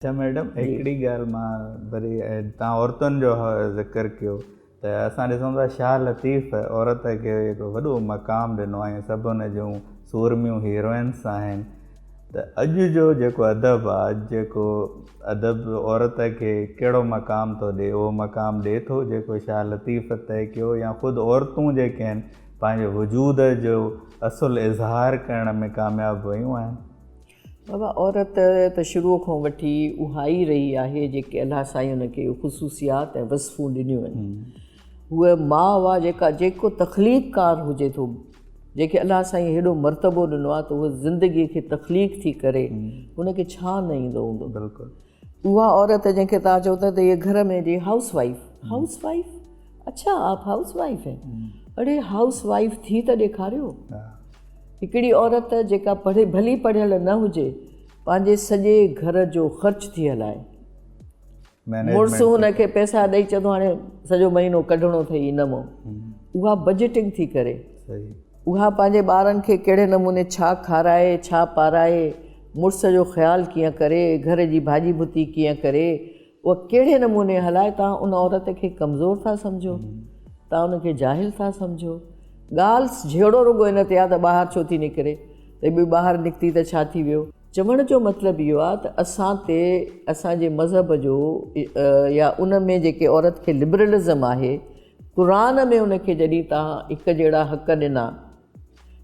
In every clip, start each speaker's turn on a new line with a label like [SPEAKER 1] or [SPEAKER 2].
[SPEAKER 1] اچا ميڊم هڪڙي ڳالهه مان وري تان عورتن جو ذڪر ڪيو ته اسان ڏسون ٿا شاهه لطيف عورت کي هڪڙو وڏو مقام ڏنو آهي سڀ هن جون سورميون هيروئنس آهن ته اڄ جو جيڪو ادب آهي اڄ جيڪو ادب عورت کي ڪهڙو مقام ٿو ڏي اهو مقام ڏي ٿو جيڪو شاهه لطيف طئي ڪيو يا خود عورتون جيڪي آهن پنهنجي وجود جو اصل اظهار ڪرڻ ۾ ڪامياب ويون آهن بابا
[SPEAKER 2] عورت ته شروع کان وٺي اها ئي رهي آهي جيڪي الله سائين ان کي خصوصيات ۽ وصفون ڏنيون آهن هوء ماء هئا جيڪا جيڪو تخليق ڪار هجي ٿو جيڪي الله سائين هيڏو مرتبو ڏنو آهي ته هو زندگي کي تخليق ٿي ڪري ان کي ڇا نه ايندو هوندو بلڪل اها عورت جنهن کي توهان چئو ٿا ته هيء گهر ۾ جي هائوس وائيف هائوس وائيف اڇا آپ هائوس وائيف هي اڙي هائوس وائيف ٿي ته ڏيکاريو هڪڙي عورت جيڪا پڙهي ڀلي پڙهيل نه هجي پنهنجي سڄي گهر جو خرچ ٿي هلائي مڙس هن کي پئسا ڏئي چئي ٿو هاڻي سڄو مهينو ڪڍڻو اٿئي انمو اها بجيٽنگ ٿي ڪري اها پنهنجي ٻارن کي ڪهڙي نموني ڇا کارائي، ڇا پارائي، مڙس جو خيال ڪيئن ڪري، گهر جي ڀاڄي ڀتي ڪيئن ڪري، اها ڪهڙي نموني هلائي، توهان ان عورت کي ڪمزور ٿا سمجهو؟ توهان ان کي جاهل ٿا سمجهو؟ ڳالهه جهيڙو رڳو ان تي آهي ته ٻاهر ڇو ٿي نڪري، ته به ٻاهر نڪتي ته ڇا ٿي ويو؟ چوڻ جو مطلب اهو آهي ته اسان تي اسان جي مذهب جو يا ان ۾ جيڪي عورت کي لبرلزم آهي، قرآن ۾ ان کي جڏهن تان هڪ جهڙا حق ڏنا،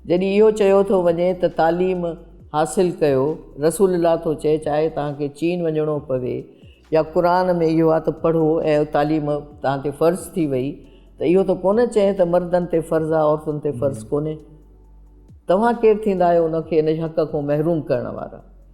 [SPEAKER 2] جڏهن اهو چيو ٿو وڃي ته تعليم حاصل ڪيو، رسول الله ٿو چئي چاهي توهان کي چين وڃڻو پوي يا قرآن ۾ اهو آ ته پڙهو ۽ تعليم توهان تي فرض ٿي وئي ته اهو ته ڪونه چئي ته مردن تي فرض آ عورتن تي فرض ڪونهي. توهان ڪير ٿيندا آهيو ان کي ان حق کون محروم ڪرڻ وارا.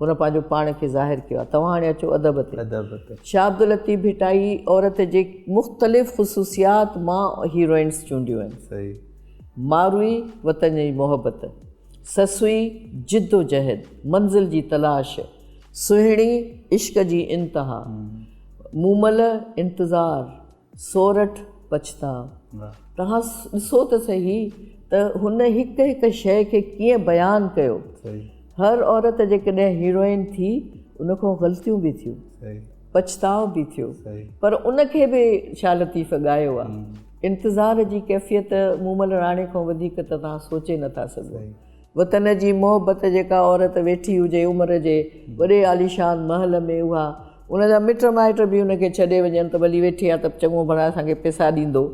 [SPEAKER 2] هن پنهنجو پاڻ کي ظاهر ڪيو آهي. توهان هاڻي اچو ادب تي. ادب تي. شاهه عبداللطيف ڀٽائي عورت جي مختلف خصوصيات مان هيروئنس چونڊيون آهن. صحيح. ماروئي، وطن جي محبت. سسئي، جدوجهد، منزل جي تلاش. سهڻي، عشق جي انتها. مومل، انتظار، سورٺ پڇتاء توهان ڏسو ته سهي ته هن هڪ هڪ شيء کي ڪيئن بيان ڪيو. هر عورت جيڪڏهن هيروئن ٿي ان کان غلطيون به ٿيون پڇتاء به ٿيو پر ان کي به شاهه لطيف ڳايو آهي. انتظار جي ڪيفيت مومل راڻي کان وڌيڪ ته توهان سوچي نٿا سگهو. وطن جي محبت جيڪا عورت ويٺي هجي عمر جي وڏي عاليشان محل ۾ اها ان جا مٽ مائٽ به ان کي ڇڏي وڃن ته ڀلي ويٺي آهي ته چڱو ڀلا اسان کي پئسا ڏيندو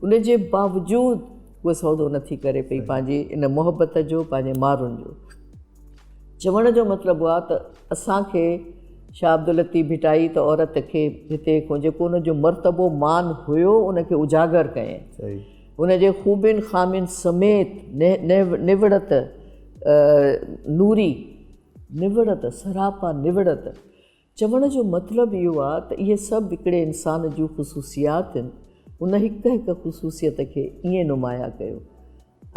[SPEAKER 2] ان جي باوجود اهو سودو نٿي ڪري پئي پنهنجي ان محبت جو پنهنجي مارن جو چوڻ جو مطلب اهو ته اسان کي شاهه عبداللطيف ڀٽائي ته عورت کي هتي جيڪو ان جو مرتبو مان هيو ان کي اجاگر ڪيائين هن جي خوبين خامين سميت نوڙت نوري، نوڙت، سراپا نوڙت، چوڻ جو مطلب اهو آ ته اهي سڀ هڪڙي انسان جون خصوصيات هن، ان هڪ هڪ خصوصيت کي ائين نمايان ڪيو.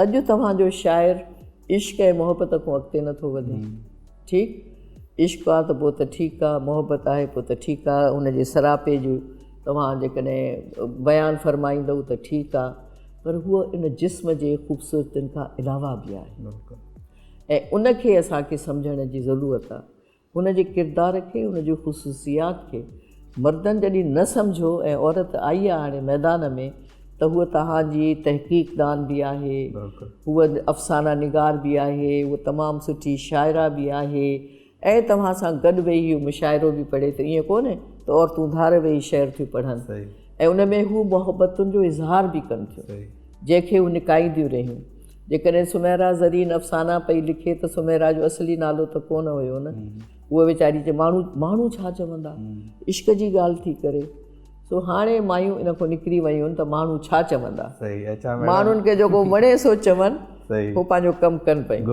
[SPEAKER 2] اڄ توهان جو شاعر عشق ۽ محبت کون اڳتي نه ٿو وڌي. ٺيڪ عشق آ ته پوء ته ٺيڪ آ، محبت آهي پوء ته ٺيڪ آ، هن جي سراپي جون. توهان جيڪڏهن بيان فرمائيندؤ ته ٺيڪ آ پر هوء ان جسم جي خوبصورتين کان علاوه به آهي ۽ ان کي اسان کي سمجهڻ جي ضرورت آ. هن جي ڪردار کي، هن جي خصوصيات کي مردن جڏهن نه سمجهو ۽ عورت آئي آ هاڻي ميدان ۾ ته هوء توهان جي تحقيق دان به آهي، هوء افسانه نگار به آهي، هوء تمام سٺي شاعره به آهي. ۽ توهان سان گڏ ويهي اهو مشاعرو به پڙهي ته ائين ڪونهي ته عورتون ڌار ويهي شعر ٿيون پڙهن ۽ ان ۾ هو محبتن جو اظهار به ڪن ٿيون جنهن کي هو نڪائينديون رهيون. جيڪڏهن سميرا زرين افسانا پئي لکي ته سميرا جو اصلي نالو ته ڪونه هيو نه. هوء ويچاري چي ماڻهو ماڻهو ڇا چوندا؟ عشق جي ڳالهه ٿي ڪري. سو هاڻي مايون ان کان نڪري ويون ته ماڻهو ڇا چوندا؟ ماڻهن کي جيڪو وڻي سو چون هو پنهنجو ڪم ڪن پيون.